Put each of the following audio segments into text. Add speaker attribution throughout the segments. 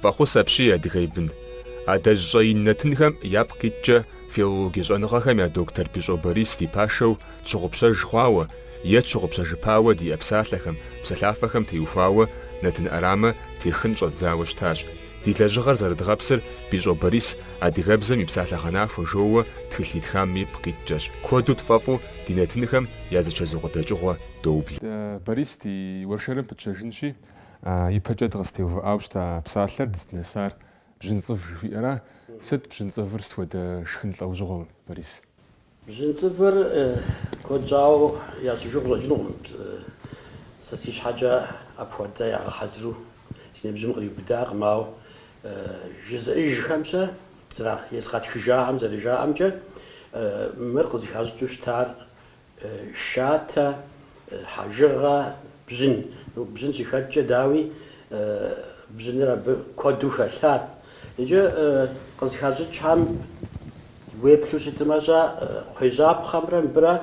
Speaker 1: Фӏэхъус апщий, адыгэ и бын. Адэжь щӏэин нэтынхэм япкъ иткӏэ филологие щӏэныгъэхэм я доктор Бищӏо Борис ди пашэу тщыгъупщэж хъуауэ е тщыгъупщэжыпауэ диӏэ псалъэхэм, псалъафэхэм теухуауэ нэтын ӏэрамэ техын щӏэдзауэ щытащ. Ди лэжьыгъэр зэрыдгъэпсыр Бищӏо Борис адыгэбзэм и псалъэгъэнахуэ жоуэ тхылъ итхам ипкъ иткӏэщ. Куэду тфӏэфӏу ди нэтынхэм я зэчэзу къыдэкӏыгъуэ доублэ. Борис ди
Speaker 2: уэршэрым пытщэжынщи, Ипэкӏэ дыкъызытеувыӏауэ щыта псалъэр, дыздынэсар Бжьынцӏыв жыхуиӏэра. Сыт Бжьынцӏывыр, сыт хуэдэ шхын лӏэужьыгъуэ, Борис? Бжьынцӏывыр
Speaker 3: куэд щӏауэ ящӏыжу къыщӏэкӏынукъым, сэ си щхьэкӏэ апхуэдэ ягъэхьэзыру си ныбжьым къриубыдакъым, ауэ жызыӏэжхэмкӏэ, езыгъэтхыжахэм зэрыжаӏэмкӏэ, мыр къызыхащӏыкӏыу щытар шатэ, хьэжыгъэ, бжьын. Бжьын щыхэткӏэ, дауи, бжьыныр абы куэду хэлъат. Иджы къызыхащӏыкӏхэм уеплъу щытымэ-щэ, кхъуейжьапхъэмрэ мыбырэ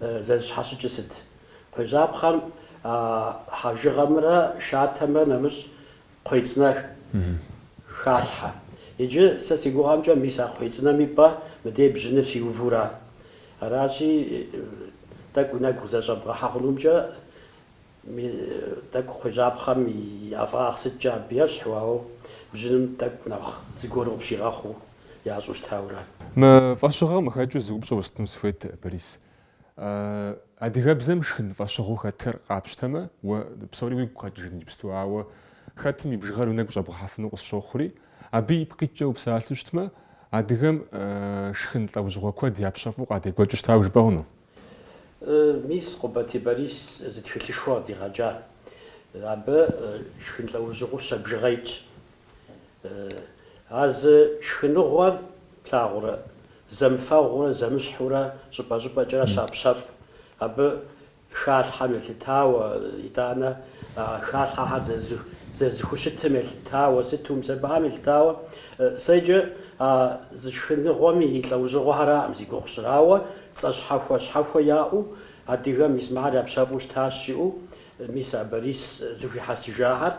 Speaker 3: зэрызэщхьэщыкӏыр сыт? Кхъуейжьапхъэм хьэжыгъэмрэ шатэмрэ нэмыщӏ Кхъуей цӏынэ халъхьэ. Иджы сэ си гугъэмкӏэ мис а кхъуей цӏынэм и пӏэ мыдей бжьыныр щиувура? Аращи, тӏэкӏу нэгу къызэрыщӏэбгъэхьэ хъунумкӏэ тӏэкӏу кхъуейжьапхъэм и ӏэфӏагъ сыткӏэ абы ещхьу, ауэ бжьыным тӏэкӏу нэхъ зыгуэру къыпщигъэхъуу ящӏу щытаура? Мы фӏэщыгъэм
Speaker 2: къыхэкӏыу зы упщӏэ уэстыну сыхуейт, Борис. Адыгэбзэм шхын фӏэщыгъэу хэтхэр къапщтэмэ, уэ псори уигу къэкӏыжын иджыпсту, ауэ хэтым и бжыгъэр уи нэгу щӏэбгъэхьэфыну къысщохъури, абы ипкъ иткӏэ упсалъэу щытмэ, адыгэм шхын лӏэужьыгъуэ куэд япщэфӏу къадекӏуэкӏыу щытауэ жыпӏэ
Speaker 3: хъуну? Мис, Къубатий Борис зы тхылъышхуэ къыдигъэкӏа. Абы шхын лӏэужьыгъуэу щэ бжыгъэ итщ. А зы шхыныгъуэр плъагъурэ, зэмыфэгъуурэ, зэмыщхьурэ, щӏыпӏэ-щӏыпӏэкӏэрэ щапщэфӏ. Абы халъхьэм елъытауэ, итӏанэ а халъхьэхэр зэрызэхущытым елъытауэ, сыту умысэбэхэм елъытауэ, сэ иджы а зы шхыныгъуэм и лӏэужьыгъуэхэраӏым зи гугъу сщӏыр, ауэ, цӏэ щхьэхуэ щхьэхуэ яӏэу, адыгэм мис мыхэр япщэфӏу щытащ жиӏэу мис а Борис зэхуихьэсыжахэр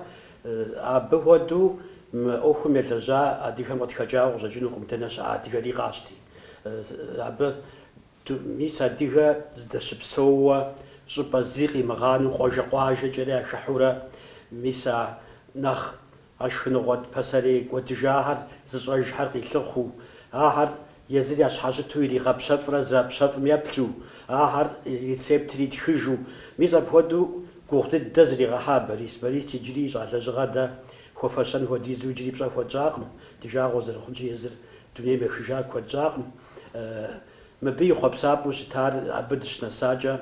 Speaker 3: Абы хуэдэу мы ӏуэхум елэжьа адыгэм къытхэкӏауэ къыщӏэкӏынукъым, дэнэ щыӏэ адыгэри къащти. Абы мис адыгэ здэщыпсэууэ щӏыпӏэ зи къимыгъанэу къуажэ къуажэкӏэрэ яхыхьурэ, мис а нэхъ а шхыныгъуэ пасэрей кӏуэдыжахэр зыщӏэжхэр къилъыхъуу, ахэр Езыр ящхьэщыту иригъэпщэфӏрэ зэрапщэфӏым еплъу, ахэр рецептыр итхыжу, мис апхуэдэу гугъу дыдэ зригъэхьа Борис. Борис иджыри ищӏа лэжьыгъэ дэ хуэфэщэн хуэдизу иджыри пщӏэ хуэтщӏакъым, ди жагъуэ зэрыхъунщи езыр дунейм ехыжа куэд щӏакъым. Мыбы и хъуэпсапӏэу щытар абы дыщынэсакӏэ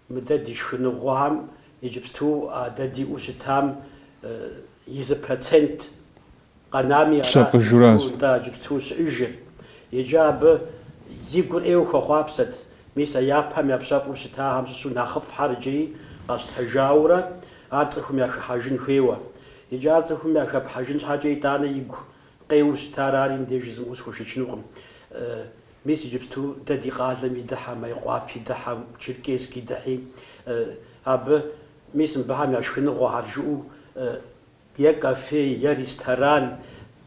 Speaker 3: Мыдэ ди шхыныгъуэхэм иджыпсту а дэ диӏэу щытам и зы процент къэнами Псэ аращ къыжуращ. иджыпсту нтӏэ иджыпсту щыӏыжыр. Икӏи абы и гур ӏейуэ хуэхъуапсэт. Мис а япэм япщэфӏу щытахэм щыщу нэхъыфӏхэр иджыри къэщтэжаурэ ар цӏыхум яхыхьэжын хуейуэ. Икӏи ар цӏыхум яхэпхьэжын щхьэкӏэ итӏанэ игу къеуэу щытар ари мыбдеж жызмыӏэу схуэшэчынукъым. Мис иджыпсту дэ ди къалэми дыхьэ, Майкъуапи дыхьэ, Черкесски дыхьи, абы, мис мыбыхэм я шхыныгъуэхьэр жыӏэу, е кафе, е ресторан,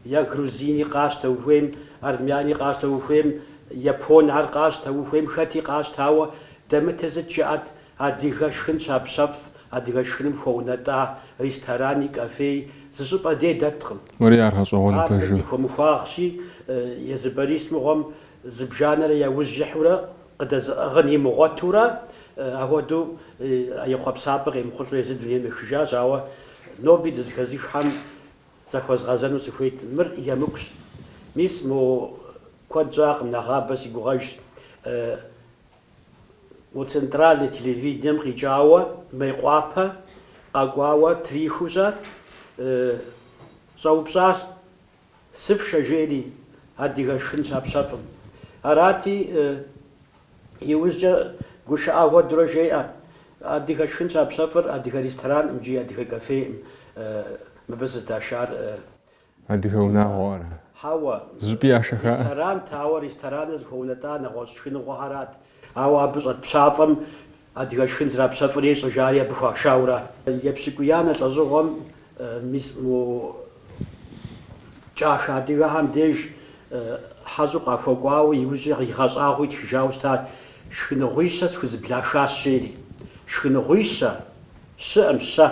Speaker 3: е грузини къащтэ ухуейм, армяни къащтэ ухуейм, японхьэр къащтэ ухуейм, хэти къащтауэ, дэмытыр сыт жыӏэт, Адыгэ шхын щапщэфӏ, адыгэ шхыным хуэунэтӏа ресторани, кафеи зы щӏыпӏэ дей дэткъым. Уэри ар гъэщӏэгъуэну
Speaker 2: Ар пэжу. Ди
Speaker 3: хуэмыхуагъщи, езы Борис мыгъуэм зыбжанэрэ яужь ихьурэ, къыдэзыӏыгъын имыгъуэтурэ, ахуэдэу а и хъуэпсапӏэр къемыхъулӏэу езы дунейм ехыжащ, ауэ ноби дызэхэзыххэм захуэзгъэзэну сыхуейт, мыр емыкӏущ. Мис, мо куэд щӏакъым, нэгъабэ си гугъэжщ. Мо центральнэ телевидением къикӏауэ Мейкъуапэ къэкӏуауэ трихыу-щэ щӏэупщӏащ, Сыфшэ жери, адыгэ шхын щапщэфӏым. Арати, иужькӏэ гушыӏэ хуэдурэ жеӏэ, Адыгэ шхын щапщэфӏыр адыгэ ресторанӏым икӏи адыгэ кафеӏым мыбы зыдашар
Speaker 2: Адыгэ унагъуэ ара? Хьэуэ.
Speaker 3: Зыщӏыпӏи яшэ
Speaker 2: хаӏэ. Ресторант,
Speaker 3: ауэ рестораныр зыхуэунэтӏар нэгъуэщӏ шхыныгъуэхьэрат. Ауэ абы щӏэт пщафӏэм адыгэ шхын зэрапщэфӏыр ещӏэ жари абы хуашаурат. Епщыкӏуиянэ лӏэщӏыгъуэм мис мо кӏахэ адыгэхьэм деж хьэщӏэу къахуэкӏуауэ иужьрей къигъэщӏагъуэу итхыжауэ щытат, Шхыныгъуищэ схузэблахащ, жери. Шхыныгъуищэ! Щыӏым, щэ.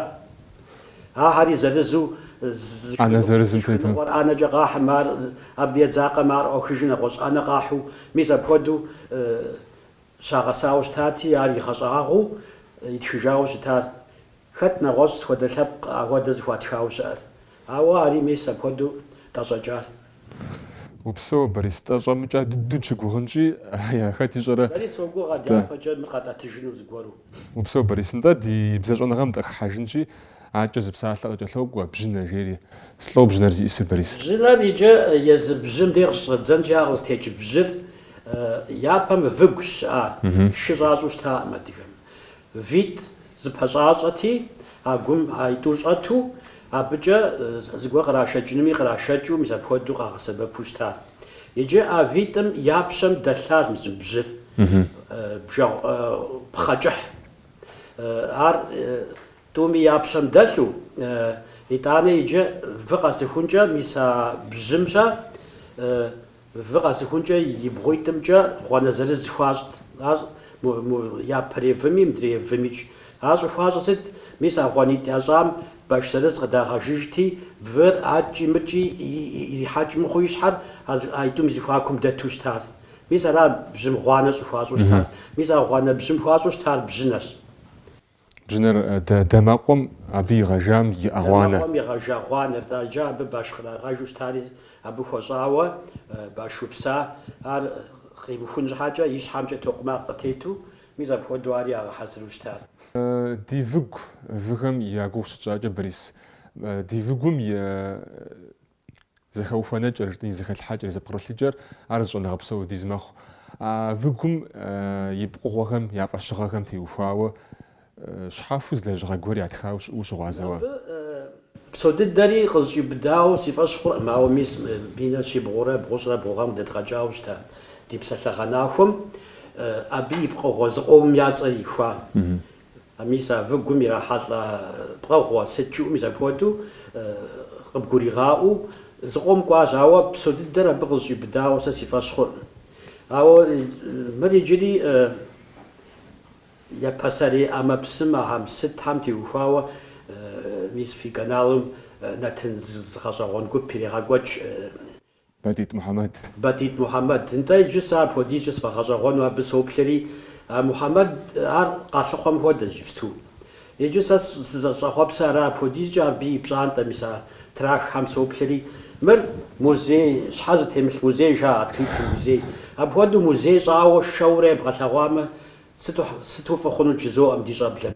Speaker 3: Ахьэри зырызу зы
Speaker 2: шхыну зы шхыныгъуэр ӏэнэкӏэ къахьым, ар
Speaker 3: абы едзакъэмэ, ар ӏуахыжу нэгъуэщӏ ӏэнэ къахьу, мис апхуэдэу щагъэсауэ щытати, ар игъэщӏагъуэу итхыжауэ щытар. Хэт нэгъуэщӏ схуэдэ лъэпкъ ахуэдэ зыхуатхауэ щыӏэр? Ауэ ари мис апхуэдэу тӏэщӏэкӏар.
Speaker 2: Упсэу, Борис, тӏэщӏэмыкӏа дыдэу щыгугъынщи, ая, хэт ищӏэрэ? Сэри согугъ адяпэкӏэ мыр
Speaker 3: къатӏэтыжыну зыгуэру. Упсэу, Борис, нтӏэ
Speaker 2: ди бзэщӏэныгъэм дыхыхьэжынщи, акӏэ зы псалъэ къыкӏэлъокӏуэ, бжьынэ, жери. Слӏо бжьынэр зиӏысыр, Борис? Бжьынэр
Speaker 3: иджы езы бжьым де къыщыщӏэдзэнщи, ар къызытекӏ бжьыр япэм выгущ щыӏар, шы щӏащӏэу щытакъым адыгэм. Витӏ зыпэщӏащӏэти, а гум а итӏур щӏэту, абыкӏэ зыгуэр кърашэкӏынуми кърашэкӏыу мис апхуэдэу къагъэсэбэпу щытар. Иджы а витӏым я пщэм дэлъащ мис бжьыр, бжэгъу пхъэ кӏыхь. Ар тӏуми я пщэм дэлъу, итӏанэ иджы вы къэсыхункӏэ мис а бжьым-щэ, Вы къэсыхункӏэ и бгъуитӏымкӏэ гъуанэ зырыз хуащӏт, ар япэрей выми мыдрей вымикӏ. Ар щӏыхуащӏыр сыт? Мис а гъуанитӏ ящӏам баш зырыз къыдагъэжыжти, выр акӏи-мыкӏи ирихьэкӏ мыхъуу и щхьэр а итӏум и зэхуакум дэту щытар. Мис ара бжьым гъуанэ щӏыхуащӏу щытар? Мис а гъуанэ бжьым хуащӏу щытар бжьынэщ.
Speaker 2: Бжьынэр дэмэкъуэм абы игъэжам иӏэ гъуанэ. Дэмэкъуэм игъэжа
Speaker 3: гъуанэр, тӏэ, иджы абы баш кърагъэжу щытари, абы хуэщӏауэ баш упса, ар къимыхун щхьэкӏэ, и щхьэмкӏэ токъумакъ къытету, мис апхуэдэу ари ягъэхьэзыру щытар. Ди выгу
Speaker 2: выхэм я гугъу щытщӏакӏэ, Борис, ди выгум и Зэхэухуэнэкӏэр, жытӏэни, зэхэлъхьэкӏэр, зэпкърылъыкӏэр, ар зы щӏэныгъэ псо хуэдиз мэхъу. А выгум и пкъыгъуэхэм, я фӏэщыгъэхэм теухуауэ щхьэхуэу зы лэжьыгъэ гуэр ятхауэ щыӏэу ущыгъуазэ уэ?
Speaker 3: Абы псо дыдэри къызэщӏиубыдауэ си фӏэщ хъуркъым, ауэ мис минрэ щибгъурэ бгъущӏрэ бгъу гъэм дэдгъэкӏауэ щыта ди псалъэгъэнахуэм абы и пкъыгъуэ зыкъомым я цӏэр ихуа, Мис а выгум ирахьэлӏэ пкъыгъуэ сыт жыӏэу мис апхуэдэу къыбгуригъаӏуэу зыкъом кӏуащ, ауэ псо дыдэр абы къызэщӏиубыдауэ сэ си фӏэщ хъуркъым. Ауэ мыр иджыри я пасэрей ӏэмэпсым ахэм сытхэм теухуауэ мис фи каналым нэтын зы гъэщӏэгъуэн гуп ирегъэкӏуэкӏ.
Speaker 2: Батит Мухьэмэд. Батит
Speaker 3: Мухьэмэд. Нтӏэ, иджы сэ апхуэдизкӏэ сфӏэгъэщӏэгъуэну абы соплъэри, а Мухьэмэд, ар къалъыхъуэм хуэдэщ иджыпсту. Иджы сэ сызыщӏэхъуэпсыр ара апхуэдизкӏэ абы и пщӏантӏэ, мис а трахахэм соплъэри, мыр музей, щхьэ зытемылъ музей жаӏэ, открытый музей. Апхуэдэу музей щӏауэ шэурэ ебгъэлъэгъуамэ, сыту, сыту фӏы хъунут жызоӏэм ди щӏэблэм.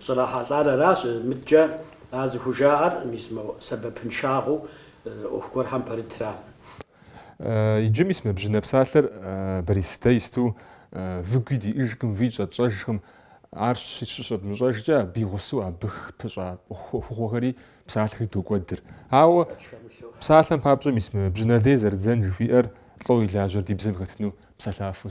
Speaker 3: Щӏрахьэлӏар аращ, мыдкӏэ а зыхужаӏэр мис мо сэбэпыншагъэу ӏуэху гуэрхэм пэрытра.
Speaker 2: Иджы мис мы бжьынэ псалъэр Борис, дэ исту выгуи диӏыжкъым, вий щӏэтщӏэжкъым. Ар щыщӏэдмыщӏэжкӏэ абы и гъусэу абы пыщӏа ӏуэхугъуэхэри псалъэхэри докӏуэдыр. Ауэ псалъэм папщӏэ мис мы бжьынэ лей зэрыдзэн жыхуиӏэр лӏо илажьэр ди бзэм хэтыну псалъафэу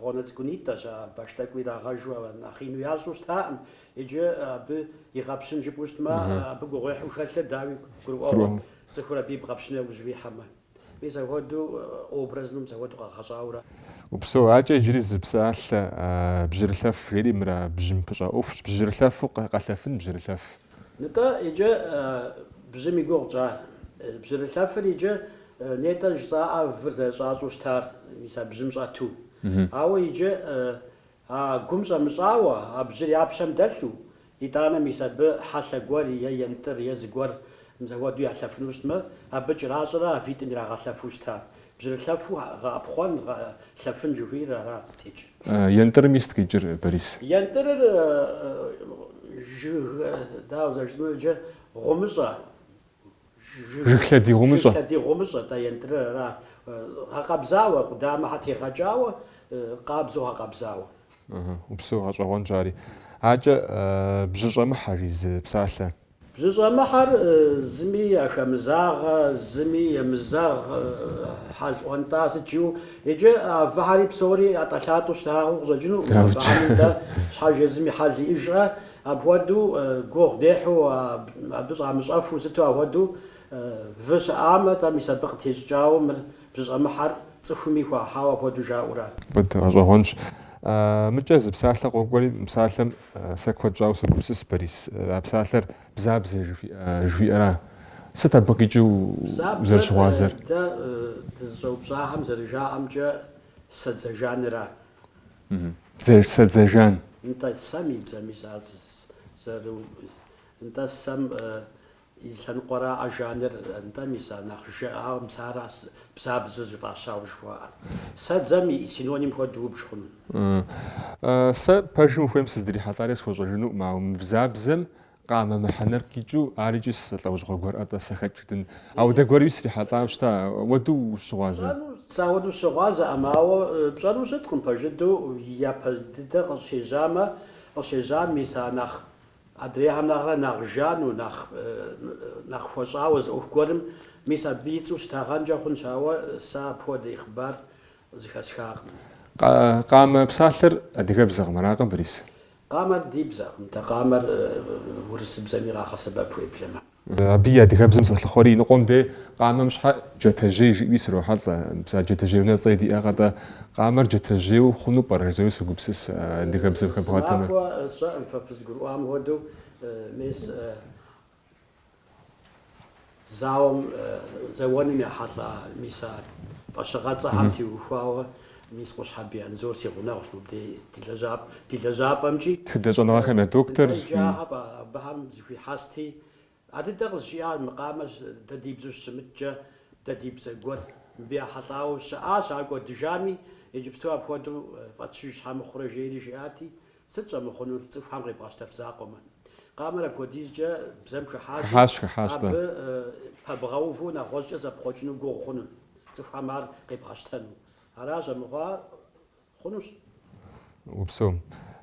Speaker 3: Гъуанэ цӏыкӏунитӏэщ, а баш тӏэкӏу ирагъэжу нэхъ ину ящӏу щытаӏым, иджы абы игъэпщын жыпӏэу щытмэ, абы гугъуехьу хэлъыр, дауи, гурыӏуэгъуэ, цӏыхур абы ибгъэпщын яужь ихьэмэ. Мис апхуэдэу образым мис апхуэдэу къэгъэщӏауэра. Упсэу,
Speaker 2: акӏэ иджыри зы псалъэ, бжьырылъэф жери мыра, бжьым пыщӏа ӏуэхущ, бжьырылъэфу къэлъэфын бжьырылъэф. Нтӏэ,
Speaker 3: иджы бжьым и гугъу тщӏа. Бжьырылъэфыр иджы Нетӏэ жысӏаӏэ выр зэрыщӏащӏэу щытар, мис а бжьым щӏэту. Ауэ иджы, а гум щӏэмыщӏауэ, а бжьыр я пщэм дэлъу, итӏанэ мис абы хьэлъэ гуэр е ентӏыр, е зыгуэр мис ахуэду ялъэфыну щытмэ, абы кӏэращӏэрэ а витӏым ирагъэлъэфу щытар? Бжьырылъэфу гъэӏэпхъуэн, лъэфын жыхуиӏэр ара къытекӏ? Ентӏырым
Speaker 2: сыт къикӏыр, Борис? Ентӏырыр,
Speaker 3: жыг, дауэ зэрыжытӏэмэ, иджы гъумыщӏэ.
Speaker 2: Жыг лъэдий гъумыщӏэ. Жыг лъэдий гъумыщӏэ,
Speaker 3: тӏэ ентӏырыр ара? Гъэкъэбзауэ, къудамэхьэ тегъэкӏауэ, къабзэу гъэкъэбзауэ. Ыхьы, упсэу
Speaker 2: гъэщӏэгъуэнщ ари. Акӏэ, бжьыщӏэмыхьэ, жи зы псалъэ.
Speaker 3: Бжьыщӏэмыхьэр зыми яхэмызагъэ, зыми емызэгъ, хьэл ӏуэнтӏа сыт жиӏэу. Иджы а выхьэри псори ӏэтӏэлъатӏэу щытагъэу къыщӏэкӏынукъым, абыхэми дэ щхьэж езым и хьэл иӏыжрэ? Апхуэдэу гугъу дехьу, абы щӏамыщӏэфу сыту ахуэдэу вы щыӏамэ, тӏэ мис абы къытещӏыкӏауэ мыр бжьыщӏэмыхьэр цӏыхуми хуахьауэ апхуэдэу жаӏэу ара. Гъэщӏэгъуэнщ.
Speaker 2: Мыкӏэ зы псалъэ къокӏуэри, мы псалъэм сэ куэд щӏауэ согупсыс, Борис. А псалъэр Бзабзэ жыхуиӏэра? Сыт абы къикӏыу узэрыщыгъуазэр? Бзабзэр дэ
Speaker 3: дызыщӏэупщӏахэм зэрыжаӏэмкӏэ, сэ дзэ жанра?
Speaker 2: Сэ дзэ жан. Нтӏэ сэм
Speaker 3: и дзэми зэру нтӏэ сэм и лъэныкъуэра а жаныр нтӏэ мис а нэхъ жыӏауэ мис ара бзабзэу зыфӏащауэ жыхуаӏэр. Сэдзэм и синоним хуэдэу убж хъуну.
Speaker 2: Сэ пэжым ухуейм сыздрихьэлӏари схуэщӏэжынукъым, ауэ мы бзабзэм Къамэ мыхьэнэр къикӏыу, ар икӏи сэ лӏэужьыгъуэ гуэрӏэ тӏэ сэхэкӏырдын. Ауэдэ гуэруи срихьэлӏауэ щыта, ауэду ущыгъуазэ. Сэ ауэду
Speaker 3: сыщыгъуазэӏым, ауэ пщӏэну щыткъым, пэжыдэу япэ дыдэ къыщежьамэ, къыщежьам мис а нэхъ, адрейхэм нэхърэ нэхъ жану, нэхъ, нэхъ хуэщӏауэ зы ӏуэху гуэрым, мис абы и цӏэу щытагъэнкӏэ хъунщ, ауэ сэ апхуэдэ и хъыбар зыхэсхакъым. Къа,
Speaker 2: къамэ псалъэр адыгэбзэкъым, аракъэ, Борис? Къамэр
Speaker 3: ди бзэкъым, дэ къамэр урысыбзэми къагъэсэбэп уеблэмэ. Абы и адыгэбзэм
Speaker 2: солъыхъуэри, иныкъуэм дей къамэм щхьэ джатэжьей жиӏуи срохьэлӏэ. Мис а Джатэжьей унэцӏэ диӏэкъэ-тӏэ? Къамэр джатэжьейуэ хъуну пӏэрэ? Жызои согупсыс, адыгэбзэм хэбгъэтэмэ.
Speaker 3: Сынахуэ сщӏэкъым фэ фызгурыӏуам хуэдэу, мис. Зауэм зэуэным ехьэлӏа мис а фӏэщыгъэцӏэхэм теухуауэ мис Къущхьэбий Анзор си гъунэгъущ мыбдей ди лэжьапӏэмкӏи. Тхыдэщӏэныгъэхэм я
Speaker 2: доктор. Лэжьыгъэфӏ
Speaker 3: абыхэм зэхуихьэсти, а дыдэ къызжиӏащ мы къамэр дэ ди бзэу щымыткӏэ, дэ ди бзэ гуэр мыбы ехьэлӏауэ щыӏащ, ар кӏуэдыжами, иджыпсту апхуэдэу фӏэтщыж щхьэ мыхъурэ жери жиӏати, Сыт щӏэмыхъунур цӏыхухэм къебгъэщтэф закъуэмэ? Къамэр апхуэдизкӏэ бзэм хыхьащи, абы пэбгъэуву нэгъуэщӏкӏэ зэпхъуэкӏыну гугъу хъунут, цӏыхухэм ар къебгъэщтэну. Аращ, амыхъуа
Speaker 2: хъунущ. Упсэу.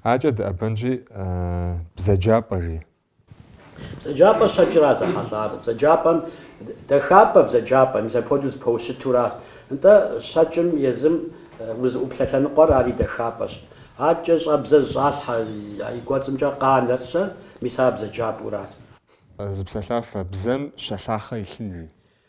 Speaker 2: Акӏэ дыӏэбэнщи, бзаджапӏэ, жи,
Speaker 3: Бзаджапӏэ щэкӏра зэхьэлӏар? Бзаджапӏэм дахапӏэ бзаджапӏэ, мис апхуэдэу зэпэщытура? Нтӏэ, щэкӏым езым узыӏуплъэ лъэныкъуэр ари дахапӏэщ. Акӏэ щӏэбзэ зыщӏалъхьэ а и кӏуэцӏымкӏэ къанэр-щэ, мис ар бзаджапӏэурат.
Speaker 2: Зы псэлъафэ бзэм щэ лъахъэ илъын, жи.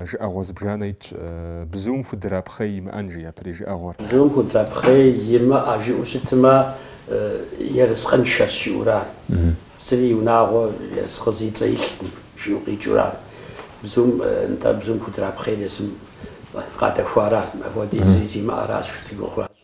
Speaker 2: Жыӏэгъуэ зыбжанэ итщ, Бзум худрапхъей имыӏэн, жи япэрей жыӏэгъуэр. Бзум худрапхъей
Speaker 3: имыӏэ жиӏэу щытмэ, ерыскъыншэщ жиӏэура? Зыри и унагъуэ ерыскъы зи цӏэ илъкъым жиӏэу къикӏыура? Бзум, нтӏэ, бзум худрапхъейр езым къадэхуара? Апхуэдизи зимыӏэращ, жи цӏыгухъуращ.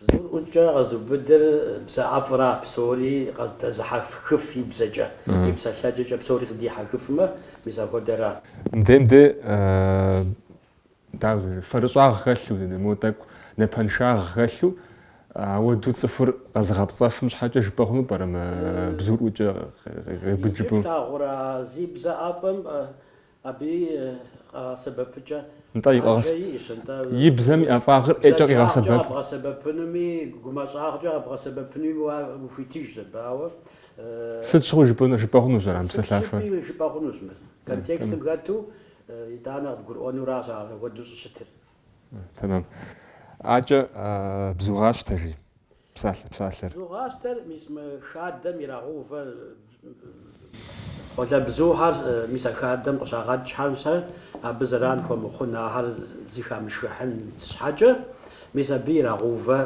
Speaker 2: Бзур
Speaker 3: ӏукӏэ къэзубыдыр бзэ ӏэфӏра, псори къыдэзыхьэхыф и бзэкӏэ, и псэлъэкӏэкӏэ псори къыдихьэхыфмэ, мис апхуэдэра. Мыдем де,
Speaker 2: дауэ зэи, фэрыщӏагъ хэлъу, дэнэ, мо тӏэкӏу напэншагъ хэлъу, ауэду цӏыхур къэзыгъэпцӏэфым щхьэкӏэ жыпӏэ хъуну пӏэрэ мы бзур ӏукӏэ къеубыд жыпӏэу? Иджы плъагъурэ, зи
Speaker 3: бзэ ӏэфӏым Абы и къагъэсэбэпыкӏэ ӏэджэ иӏэщ,
Speaker 2: атӏэ и бзэм и ӏэфӏагъыр ӏейкӏэ къигъэсэбэп. Бзаджагъкӏэ къэбгъэсэбэпынуми,
Speaker 3: гумащӏагъкӏэ къэбгъэсэбэпынуми уэ ухуитыжкъэ, ауэ. Сыт
Speaker 2: щыгъуи жыпӏэну, жыпӏэ хъунущ ар а псэлъафэр. Сыт щыгъуи жыпӏэ
Speaker 3: хъунущ мыр. Контекстым хэту, итӏанэ къыбгурыӏуэнуращ ар апхуэдэу щӏыщытыр. Тэмэм.
Speaker 2: Акӏэ
Speaker 3: бзугъащтэ,
Speaker 2: жи. псалъэ псалъэр. Бзугъащтэр,
Speaker 3: мис мы хадэм ирагъэувэ къуалэбзухэр, мис а хадэм къыщагъэкӏхэм-щэ абы зэран хуэмыхъун, ахэр зыхамышхыхьын щхьэкӏэ, мис абы ирагъэувэ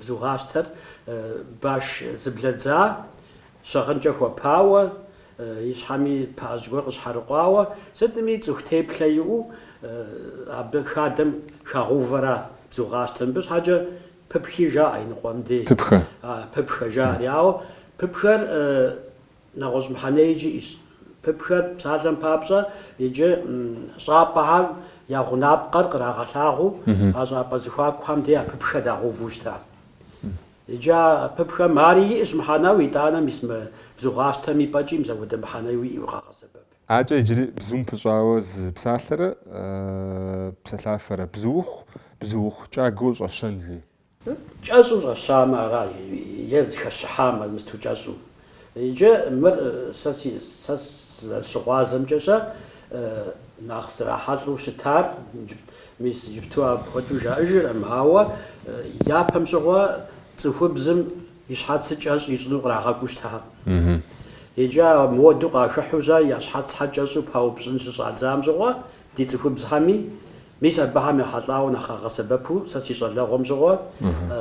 Speaker 3: бзугъащтэр баш зэблэдза, щыгъынкӏэ хуэпауэ, и щхьэми пыӏэжь гуэр къыщхьэрыкъуауэ, сытми цӏыху теплъэ иӏэу абы хадэм хагъэувэра, бзугъащтэ. Мыбы щхьэкӏэ пыпхи жаӏэ иныкъуэм дей. Пыпхэ. А, пыпхэ жаӏэри. Ауэ пыпхэр нэгъуэщӏ мыхьэнэи иджы иӏэщ. Пыпхэр псалъэм папщӏэ иджы щӏапӏэхэм я гъунапкъэр кърагъэлъагъуу, а щӏапӏэ зэхуакухэм дей а пыпхэр дагъэуву щытащ. Иджы а пыпхэм ари иӏэщ мыхьэнэу итӏанэм мис мы бзугъащтэм и пӏэкӏи мис апхуэдэ мыхьэнэу иӏэу къагъэсэбэп. Акӏэ иджыри
Speaker 2: бзум пыщӏауэ зы псалъэрэ псэлъафэрэ, бзуухъу, бзуухъу кӏагуэу щӏэщэн, жи.
Speaker 3: Кӏэщӏу щӏэщамэ ара, е зыхэщыхьамэ, мысту кӏэщӏу, Иджы мыр сэ си сэ сызэрыщыгъуазэмкӏэ-щэ нэхъ зрахьэлӏэу щытар, мис иджыпту апхуэдэу жаӏэжыркъым, ауэ япэм щыгъуэ цӏыхубзым и щхьэцыр кӏэщӏ ищӏыну кърагъэкӏуу щытакъым. Иджы а модэу къахыхьэу-щэ я щхьэцхьэр кӏэщӏу паупщӏын щыщӏадзам щыгъуэ ди цӏыхубзхэми, мис абыхэм ехьэлӏауэ нэхъ къагъэсэбэпу сэ си щӏалэгъуэм щыгъуэ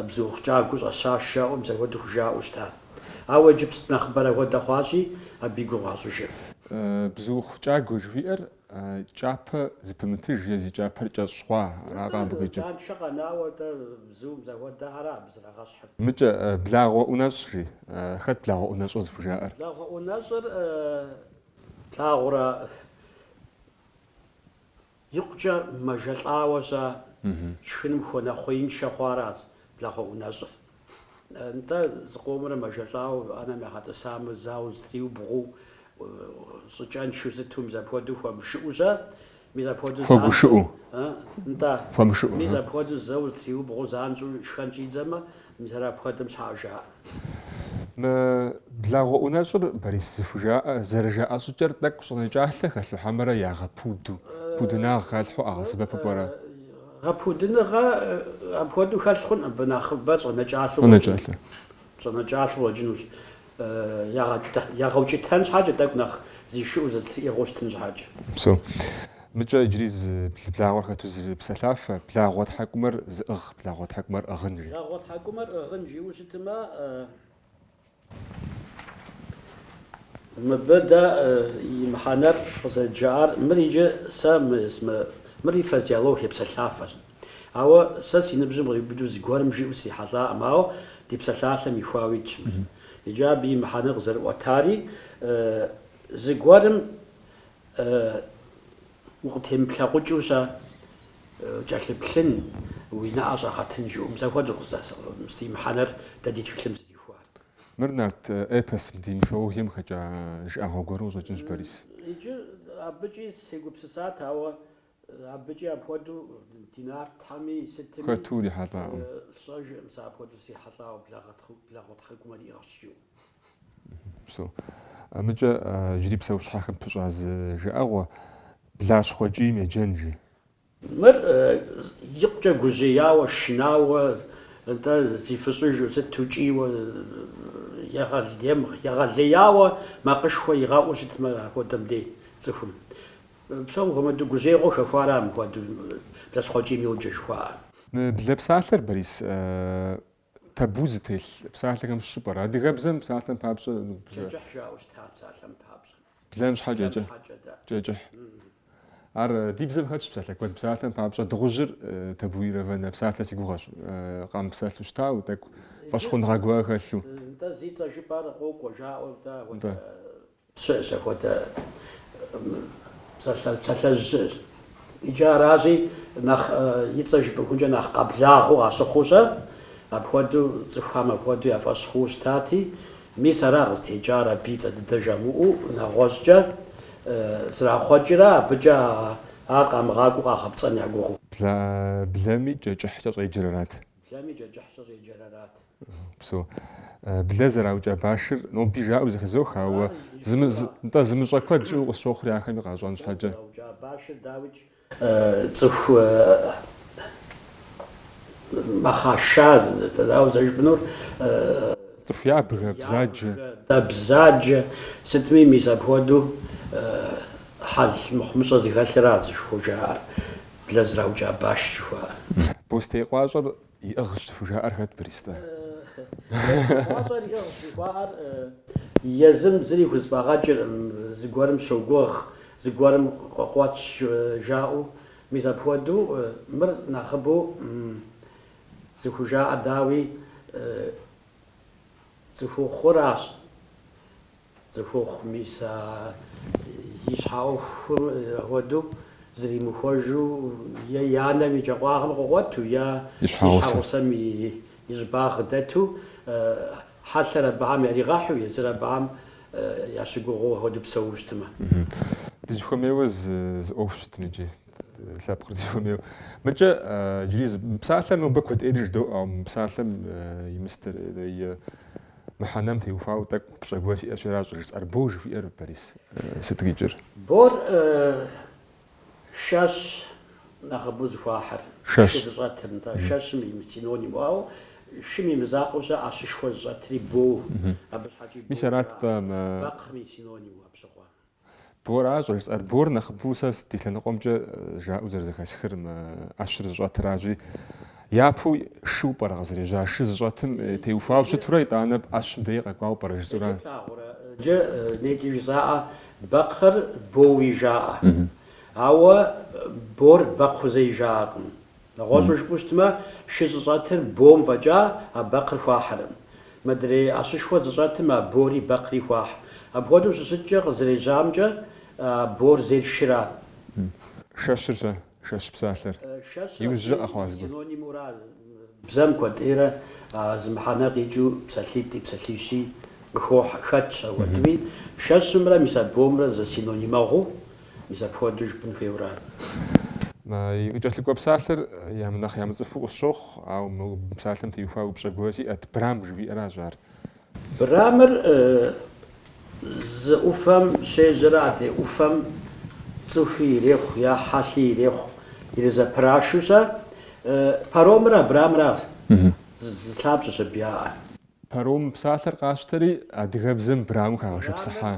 Speaker 3: бзуухъу кӏагуэу щӏэща жаӏэу мис апхуэдэу хужаӏэу щытар. Ауэ иджыпст нэхъыбэрэ хуэдэ хъуащи, абы и гугъу къащӏыжыр.
Speaker 2: Бзуухъу кӏагуэ жыхуиӏэр кӏапэ зыпымытыж е зи кӏапэр кӏэщӏ хъуа, аракъэ абы къикӏыр? Кӏэншэ
Speaker 3: къэнауэ дэ бзум зэхуэдэ ара абы
Speaker 2: зрагъэщхьыр? Мыкӏэ, благъуэ ӏунэщӏ, жи. Хэт благъуэ ӏунэщӏыр зыхужаӏэр?
Speaker 3: Благъуэ ӏунэщӏыр плъагъурэ? Икъукӏэ мэжэлӏауэ-щэ шхыным хуэнэхъуеиншэ хъуаращ благъуэ ӏунэщӏыр. Нтӏэ, зыкъомрэ мэжэлӏауэ ӏэнэм ягъэтӏысамэ, зэуэ зытриубгъуу, щӏыкӏэншэу сыту мис апхуэдэу хуэмышыӏэу-щэ, мис апхуэдэу занщӏэу.
Speaker 2: Хуэгушыӏэу? Нтӏэ.
Speaker 3: Хуэмышыӏэу. Мис
Speaker 2: апхуэдэу зэуэ
Speaker 3: зытриубгъуу занщӏэу шхэн щӏидзэмэ, Мис ар апхуэдэм щхьэкӏэ
Speaker 2: жаӏэ. Мы благъуэ ӏунэщӏыр Борис зыхужаӏэ, зэрыжаӏэ щӏыкӏэр тӏэкӏу щӏэнэкӏалъэ хэлъу хьэмэрэ ягъэпуду, пудынагъ халъхьэу къагъэсэбэпу
Speaker 3: пӏэрэ? Гъэпудыныгъэ апхуэдэу хэлъ хъун, абы нэхъыбэ щӏэнэкӏалъэу щӏэнэкӏалъэу къыщӏэкӏынущ. ягъэукӏытэн щхьэкӏэ, тӏэкӏу нэхъ зишыӏэу зызэтриӏыгъэу щытын щхьэкӏэ.
Speaker 2: Псо. Мыкӏэ иджыри зы благъуэр хэту зы псэлъафэ, Благъуэ тхьэкӏумэр зыӏыгъ, благъуэ тхьэкӏумэр ӏыгъын, жи.
Speaker 3: Благъуэ тхьэкӏумэр ӏыгъын жиӏэу щытымэ, мыбы дэ и мыхьэнэр къызэрыджаӏар, мыр иджы сэ мы, мыри фразеологие псэлъафэщ. Ауэ сэ си ныбжьым къриубыдэу зыгуэрым жиӏэу срихьэлӏакъым, ауэ ди псалъалъэм ихуауэ итщ мыр. Иджы абы и мыхьэнэр къызэрыӏуэтари, зыгуэрым укъытемыплъэкъукӏыу щэ кӏэлъыплъын, уи нэӏэ щӏэгъэтын жиӏэу, мис апхуэдэу къыздэсӏыгъ, ди мыхьэнэр дэ ди тхылъым зыдихуар. Мыр нарт
Speaker 2: эпосым, ди мифологием хэкӏа жыӏэгъуэ гуэру къыщӏэкӏынщ, Борис. Иджы
Speaker 3: абыкӏи сегупсысат, ауэ Абыкӏи апхуэдэу ди нартхэми сытми хэту
Speaker 2: урихьэлӏакъым. Сщӏэжкъым
Speaker 3: сэ апхуэдэу срихьэлӏауэ благъуэ тхьэкӏумэр иӏыгъщ
Speaker 2: жиӏэу. Псо. Мыкӏэ иджыри псэущхьэхэм пыщӏа зы жыӏэгъуэ, Блащхъуэ кӏийм еджэн, жи.
Speaker 3: Мыр икъукӏэ гужьеяуэ, шынауэ, нтӏэ, зифыщӏыжу, сыту кӏийуэ, егъэлеяуэ макъышхуэ игъэӏуу щытмэ апхуэдэм дей цӏыхум. Псом хуэмыдэу гужьеигъуэ хэхуар ар мыпхуэдэу блащхъуэ кӏийм йоджэ жыхуаӏэр. Блэ
Speaker 2: псалъэр, Борис, табу зытелъ псалъэхэм щыщ пӏэрэ. Адыгэбзэм псалъэм папщӏэ блэ. Кӏэкӏыхь
Speaker 3: жаӏэу щыта псалъэм папщӏэ. Блэм
Speaker 2: щхьэкӏэ кӏэкӏыхь. Ар ди бзэм хэтщ псалъэ куэд. Псалъэм папщӏэ дыгъужьыр табуированнэ псалъэ си гугъэщ. Къамыпсэлъу щытауэ тӏэкӏу фӏэщхъуныгъэ гуэр хэлъу.
Speaker 3: Нтӏэ, зи цӏэ жыпӏэр къокӏуэ жаӏэу, нтӏэ, апхуэдэ. Щыӏэщ апхуэдэ псалъэжь щыӏэщ. Иджы аращи, нэхъ и цӏэ жыпӏыхункӏэ нэхъ къэблагъэу къащыхъуу щэ, апхуэдэу цӏыхухэм апхуэдэу я фӏэщ хъууэ щытати, мис ара къызытекӏар абы и цӏэ дыдэ жамыӏэу нэгъуэщӏкӏэ зрахъуэкӏрэ абыкӏэ ар къамыгъакӏуэу къагъэпцӏэн я гугъэу. Блэми
Speaker 2: кӏэкӏыхькӏэ щӏеджэр арат.
Speaker 3: Блэми кӏэкӏыхькӏэ щӏеджэр
Speaker 2: арат. Псо. Блэ зэраукӏа башыр, ноби жаӏэу зэхэзох, ауэ нтӏэ зымыщӏэ куэд щыӏэу къысщохъури ахэми къащӏэн щхьэкӏэ. Блэ зэраукӏа башыр дауикӏ?
Speaker 3: Цӏыху мэхъашэ, дауэ
Speaker 2: зэрыжыпӏэнур? Цӏыху ябгэ, бзаджэ.
Speaker 3: Бзаджэ, сытми мис апхуэдэу хьэл мыхъумыщӏэ зыхэлъырат зыхужаӏэр. блэ зэраукӏа баш жыхуаӏэр. Бостей
Speaker 2: къуащӏэр иӏыгъщ зыхужаӏэр хэт Борис-тӏэ?
Speaker 3: Бостей къуащӏэр иӏыгъщ жыхуаӏэр езым зыри хузэфӏэгъэкӏыркъым, зыгуэрым щогугъ, зыгуэрым къуэтщ жаӏэу. Мис апхуэдэу мыр нэхъыбэу зыхужаӏэр дауи цӏыхухъуращ, Цӏыхухъу мис а и щхьэ ӏуэхур хуэдэу зэримыхуэжу е и анэм и кӏэкъуагъым къыкъуэту, е и щхьэгъусэм и щӏыбагъ дэту, хьэлъэр абыхьэм яригъэхьу, езыр абыхьэм ящыгугъыу апхуэдэу псэууэ щытмэ.
Speaker 2: Дызыхуэмейуэ зы ӏуэху щытым иджы, лъэпкъыр дызыхуэмейуэ. Мыкӏэ иджыри мы псалъэр нобэ куэдӏейрэ жыдоӏэ, ауэ мы псалъэм и мыстер, е Мыхьэнэм теухуауэ тӏэкӏу упщӏэ гуэр сиӏэщи аращ щӏыжысӏэр. Бо жыхуиӏэр, Борис, сыт къикӏыр? Бор
Speaker 3: шэщ нэхъыбэу зыхуахьыр. Шэщ. Шы
Speaker 2: зыщӏэтыр,
Speaker 3: нтӏэ, шэщым и синониму, ауэ шым и мызакъуэу щэ ӏэщышхуэ зыщӏэтри боу. Абы щхьэкӏи Мис боуи арат, жаӏэ. тӏэ, мы.
Speaker 2: Бэкхъым и
Speaker 3: синониму, абщыгъуэ. Бор аращ
Speaker 2: щӏыжысӏэр. Бор нэхъыбэу сэ ди лъэныкъуэмкӏэ жаӏэу зэрызэхэсхыр мы ӏэщыр зыщӏэтыращи, япэу шыу пӏэрэ къызэрежьа? Шы зыщӏэтым теухуауэ щытурэ, итӏанэ ӏэщым дей къэкӏуауэ пӏэрэ жысӏэурэ? Плъагъурэ,
Speaker 3: джэ нейкӏи жызаӏэ, бэкхъыр боуи жаӏэ. Ауэ бор бэкхъу зэи жаӏэкъым. Нэгъуэщӏу жыпӏэу щытмэ, шы зыщӏэтыр бом фӏэкӏа а бэкхъыр хуахьэрым. Модрей ӏэщышхуэ зыщӏэтым а бори бэкхъри хуахь. Апхуэдэу щыщыткӏэ къызэрежьамкӏэ, а бор зейр шырат. Шэщыр
Speaker 2: щӏэ, шэщ псалъэр. Шэщыр Иужьрэ къэхъуа абдежым зыгуэр.
Speaker 3: синонимура, бзэм куэдӏейрэ а зы мыхьэнэ къикӏыу псалъитӏи, псалъищи къыхохь. Хэтщ ауэдыми, шэщымрэ мис а бомрэ зэсинонимэгъуу, Мис апхуэдэу жыпӏэн хуейуэра
Speaker 2: ар? И къыкӏэлъыкӏуэ псалъэр нэхъ ямыцӏыхуу къысщохъу, ауэ мы псалъэм теухуа упщӏэ гуэр сиӏэт, Брам жыхуиӏэращ ар. Брамыр
Speaker 3: зы ӏуфэм щежьэрэ адрей ӏуфэм цӏыхуи ирехъу е хьэлъи ирехъу ирызэпрашу щэ. Паромыр а брамыращ, зы лъабжьэщ абы яӏэр. Паром
Speaker 2: псалъэр къащтэри, адыгэбзэм браму хагъэшыпсыхьа.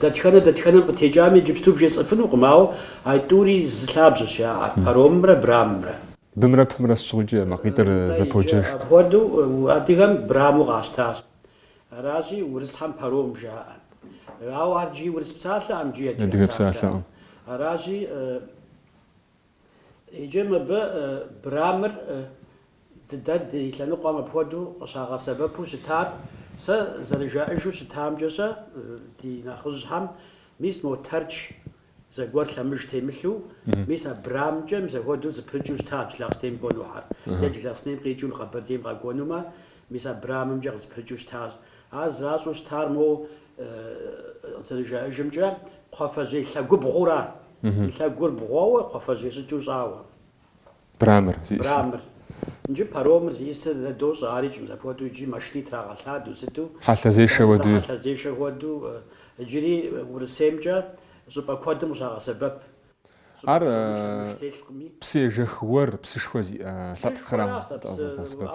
Speaker 3: Дэтхэнэ дэтхэнэм къытекӏами иджыпсту бжесӏэфынукъым, ауэ а тӏури зы лъабжьэщ яӏэр, паромымрэ брамымрэ. Бымрэ пымрэ
Speaker 2: сыт щыгъуэкӏи макъитӏыр зэподжэж.
Speaker 3: Апхуэдэу адыгэм браму къащтащ. Аращи, урысхьэм паром жаӏэ. Ауэ ар иджыри урыс псалъэкъым, иджыри адыгэ псалъэкъым.
Speaker 2: Аращи.
Speaker 3: Иджы мыбы Брамыр дэ ди лъэныкъуэм апхуэдэу къыщагъэсэбэпу щытар, сэ зэрыжаӏэжу щытамкӏэ-щэ, ди нэхъыжьхьэм мис мо Тэрч зэгуэр лъэмыж темылъу, мис а Брамкӏэ мис апхуэдэу зэпрыкӏыу щыта Джылахъстэнейм кӏуэнухьэр, е Джылахъстэнейм къикӏыу Къэбэрдейм къэкӏуэнумэ, мис а Брамымкӏэ къызэпрыкӏыу щытащ. Ар зэращӏу щытар моуэ зэрыжаӏэжымкӏэ, кхъуафэжьей лъэгубгъура? Лъэгур бгъуэуэ, кхъуафэжьей щӏыкӏыу щӏауэ.
Speaker 2: Брамыр. Брамыр.
Speaker 3: Иджы паромыр зиӏысыр дэ дощӏэ, ари кӏым зэпхуэдэу иджы машини трагъэлъадэу, сыту. Хьэлъэзешэ хуэдэу. Дэ
Speaker 2: хьэлъэзешэ хуэдэу.
Speaker 3: Иджыри Урысеймкӏэ щӏыпӏэ куэдым къыщагъэсэбэп.
Speaker 2: Ар псы ежэх уэр, псышхуэ зиӏэ лъэпкъхэращ.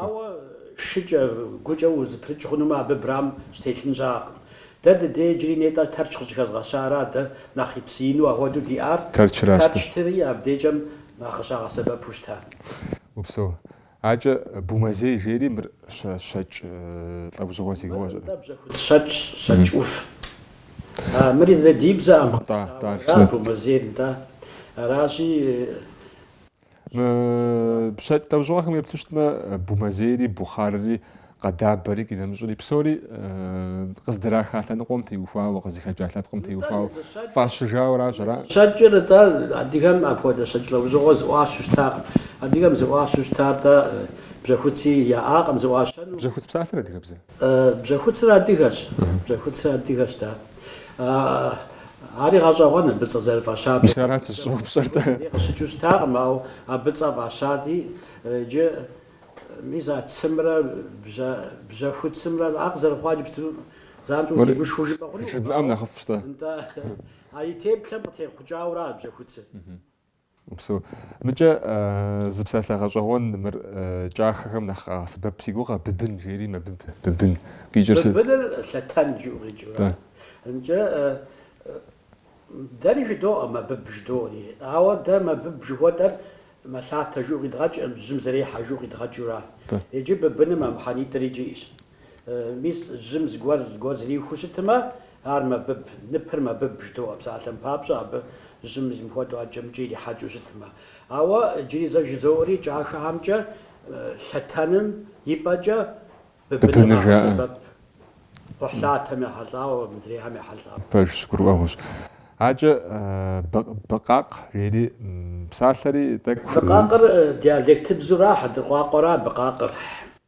Speaker 2: Ауэ
Speaker 3: шыкӏэ, гукӏэ узыпрыкӏ хъунумэ, абы брам щытелъын щыӏакъым. Дэ ди дей иджыри нетӏэ Тэрч къыщӏыхэзгъэщара, дэ нэхъ псы ину ахуэдэу диӏар Тэрчтри абдекӏэм нэхъ къыщагъэсэбэпу щытар. Упсэу.
Speaker 2: Акӏэ бумэзей жери мыр щэкӏ лӏэужьыгъуэ си гугъэщ. Мыр бжьэхуц
Speaker 3: щэкӏщ, щэкӏ ӏув. Мыри ди бзэкъым. Тӏа, тӏар, жысӏэ. Бумэзейр, нтӏэ. Аращи.
Speaker 2: Мы щэкӏ лӏэужьыгъуэхэм еплъу щытмэ, бумэзейри, бухъарри, къэдабэри, къинэмыщӏри псори къыздраха лъэныкъуэм теухуауэ, къызыхэкӏа лъэпкъым теухуауэ, фӏащыжауэращ ара? Щэкӏыр атӏэ
Speaker 3: адыгэм апхуэдэ щэкӏ лӏэужьыгъуэ зыӏуащу щытакъым. Адыгэм зыӏуащу щытар атӏэ бжьэхуци яӏакъым зыӏуащэну. Бжьэхуц псалъэр адыгэбзэ? Бжьэхуцыр адыгэщ, бжьэхуцыр адыгэщ, да. Ари гъэщӏэгъуэн абы цӏэ зэрыфӏащати. Мис арат сыщӏэупщӏэр,
Speaker 2: тӏэ. Ари къыщыкӏыу щытакъым,
Speaker 3: ауэ абы цӏэ фӏащати, иджы мис а цымрэ бжьэхуцымрэ ар къызэрыхъуар иджыпсту занщӏэу утегушхуэу жыпӏэ хъунукъым. Жыдмыӏэм нэхъыфӏщ, тӏэ.
Speaker 2: Ауэ
Speaker 3: а и теплъэм къытехъукӏауэ ара
Speaker 2: бжьэхуцыр? Псо. Мыкӏэ зы псалъэ гъэщӏэгъуэн мыр кӏахэхэм нэхъ къагъэсэбэп си гугъэ, быбын жери мэбыб, быбын. Къикӏыр сыт? Быбыныр лъэтэн
Speaker 3: жыӏэу къикӏыура. Мкӏэ дэри жыдоӏэ мэбыб жыдоӏэри, ауэ дэ мэбыб жыхуэтӏэр мэлъатэ жыӏэу къидгъэкӏ, жьым зэрехьэ жыӏэу къидгъэкӏыуращ. Иджы быбыным а мыхьэнитӏыр иджы иӏэщ. Мис жьым зыгуэр зыгуэр зрихыу щытымэ, ар мэбыб, ныпыр мэбыб жыдоӏэ псалъэм папщӏэ, абы жьым зэмыхуэдэу ӏэджэмкӏи ирихьэкӏыу щытымэ. Ауэ иджыри зэ жызоӏэри кӏахэхэмкӏэ лъэтэным и пӏэкӏэ быбыныр къагъэсэбэп, кхъухьлъатэм ехьэлӏауэ, мыдрейхэм ехьэлӏауэ.
Speaker 2: Пэж гурыӏуэгъуэщ. Акӏэ быкъакъ жери псалъэри тӏэкӏу. Быкъакъыр
Speaker 3: диалектыбзура, хьэндыркъуакъуэра быкъакъыр.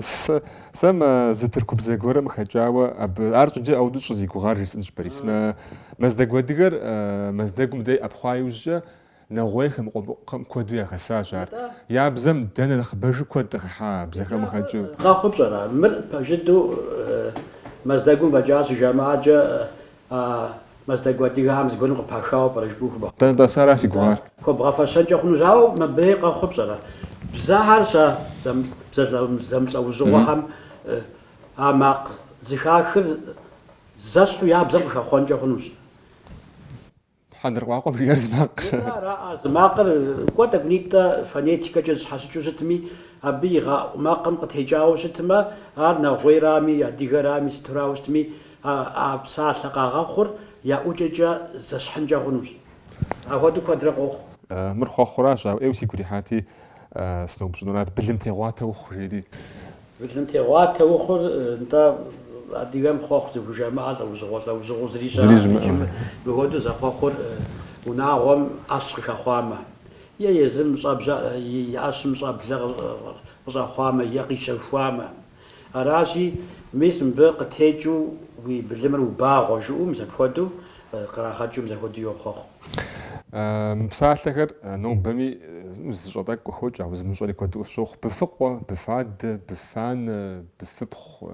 Speaker 2: Сэ сэ мэ зы тыркубзэ гуэрэм хэкӏауэ абы ар щӏыкӏэ ӏэуду щӏызигугъар жысӏэнщ Борис. Мы мэздэгу адыгэр Мэздэгум дей ӏэпхъуа иужькӏэ нэгъуейхэм, къумыкъухэм куэду яхэсащ ар. Я бзэм дэ нэхъ нэхъыбэжу куэд къыхыхьа бзэхэм хэкӏыу. Къэхъур пщӏэрэ, мыр пэжыдэу
Speaker 3: Мэздэгум фӏэкӏа щыжамыӏэкӏэ А мэздэгу адыгэхэм зыгуэрым къыпахауэ пӏэрэ жыпӏэу хуэбгъэфэщэн? Дэнэ тӏэса ара си
Speaker 2: гугъар? Хуэбгъэфэщэнкӏэ
Speaker 3: хъунущ, ауэ мыбыи къэхъур пщӏэрэ? Бзэхэр, бзэ зэмылӏэужьыгъуэхэм а макъ зыхахыр зэщхьу я бзэм къыхэхъуэнкӏэ хъунущ.
Speaker 2: Хьэдыркъуакъуэм жиӏэр зы макъыращ, а зы
Speaker 3: макъыр, кӏуэ, тӏэкӏунитӏэ фонетикэкӏэ зыщхьэщыкӏыу щытми, абы игъэӏу макъым къытекӏауэ щытмэ, ар нэгъуейрами, адыгэрами, сытурауэ щытми, а а псалъэ къагъэхъур я ӏукӏэкӏэ зэщхьынкӏэ хъунущ. Апхуэдэу куэдрэ къохъу. Мыр хъуэхъуращ,
Speaker 2: ауэ ӏейуэ сигу ирихьати, сыноупщӏынурат былым тегъуатэ ухъу, жери. Былым
Speaker 3: тегъуатэ ухъур нтӏэ адыгэм хъуэхъу зыхужамыӏэ лӏэужьыгъуэ лӏэужьыгъуэу зыри щыӏэкъым икӏи мыхуэдэу зэхъуэхъур унагъуэм ӏэщ къыхэхъуамэ е езым щӏэбжьэ и ӏэщым щӏэблэ къыщӏэхъуамэ е къищэхуамэ. Аращи, мис мыбы къытекӏыу уи былымыр убагъуэ жиӏэу мис апхуэдэу кърагъэкӏыу мис апхуэдэу йохъуэхъу. Мы
Speaker 2: псалъэхэр нобэми зыщӏэ тӏэкӏу къыхокӏ, ауэ зымыщӏэри куэду къысщохъу. Быфыкъуэ, быфадэ, быфанэ, быфыпхъу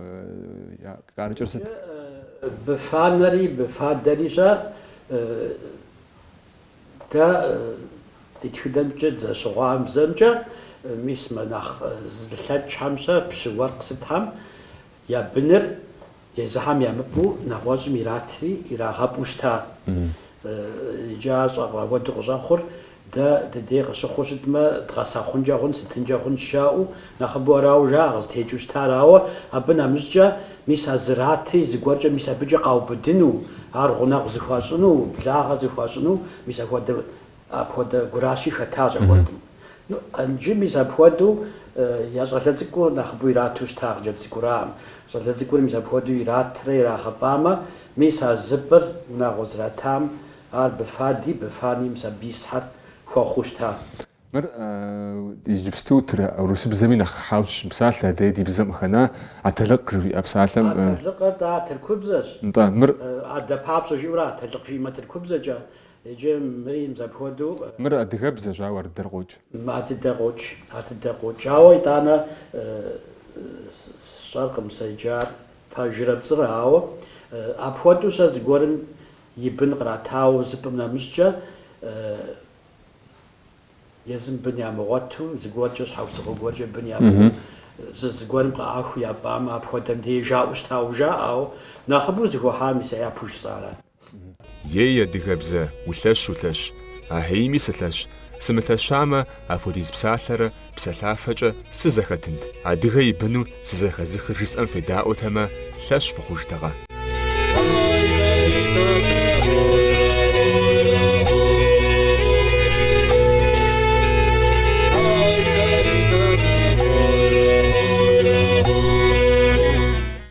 Speaker 2: къарыкӏыр сыт?
Speaker 3: Быфанэри быфадэри щэ, дэ ди тхыдэмкӏэ дызэщыгъуазэмкӏэ, мис мо нэхъ зылъэкӏхэм щэ, пщы, уэркъ сытхэм я быныр езыхэм ямыпӏу нэгъуэщӏым иратри ирагъэпӏу щытат. Иджы ар щӏэ, апхуэдэу къыщӏэхъур, дэ дыдей къыщыхъуу щытмэ, дгъэсэхъункӏэ хъун, сытынкӏэ хъун жаӏэу, нэхъыбэу арауэ жаӏэ къызытекӏыу щытар, ауэ абы нэмыщӏкӏэ мис а зыратри зыгуэркӏэ мис абыкӏэ къаубыдыну, ар гъунэгъу зыхуащӏыну, благъэ зыхуащӏыну мис ахуэдэ Апхуэдэ гуращи хэтащ апхуэдэм. Иджы мис апхуэдэу я щӏалэ цӏыкӏур нэхъыбэу ирату щытащ, хъыджэбз цӏыкӏураӏым. Щӏалэ цӏыкӏур мис апхуэдэу иратрэ ирагъэпӏамэ, мис а зыпӏыр унагъуэ зратам, ар быфади, быфани мис абы исхэр хуэхъуу щытащ.
Speaker 2: Мыр иджыпсту урысыбзэми нэхъ хьэу щыщ псалъэ, а дэ ди бзэм къыхэна атэлыкъ жыхуиӏэ псалъэм. Атэлыкъыр, тӏэ, а
Speaker 3: тыркубзэщ. Нтӏэ, мыр.
Speaker 2: Адэ папщӏэ
Speaker 3: жиӏэурэ атэлыкъ жиӏэмэ тыркубзэкӏэ, Иджы мыри мис апхуэдэу, мыр
Speaker 2: адыгэбзэщ, ауэ ардыдэр къокӏ. Ардыдэр
Speaker 3: къокӏ, ардыдэр къокӏ. Ауэ итӏанэ сщӏэркъым сэ иджы ар пэжрэ пцӏырэ, ауэ апхуэдэу сэ зыгуэрым и бын къратауэ зыпӏым нэмыщӏкӏэ, езым бын ямыгъуэту, зыгуэркӏэ щхьэусыгъуэ гуэркӏэ бын ямыӏэу, зы зыгуэрым къыӏахыу япӏамэ, апхуэдэм деж жаӏэу щытауэ жаӏэ, ауэ нэхъыбэу зыхуахьар мис япэу жысӏарат. Ей,
Speaker 1: адыгэбзэ, улъэщ, улъэщ, ахьейми сылъэщ, сымылъэщамэ, апхуэдиз псалъэрэ псалъафэкӏэ сызэхэтынт, адыгэ и быну сызэхэзыхыр жысӏэм федаӏуэтэмэ, лъэщ фыхъужтэкъэ?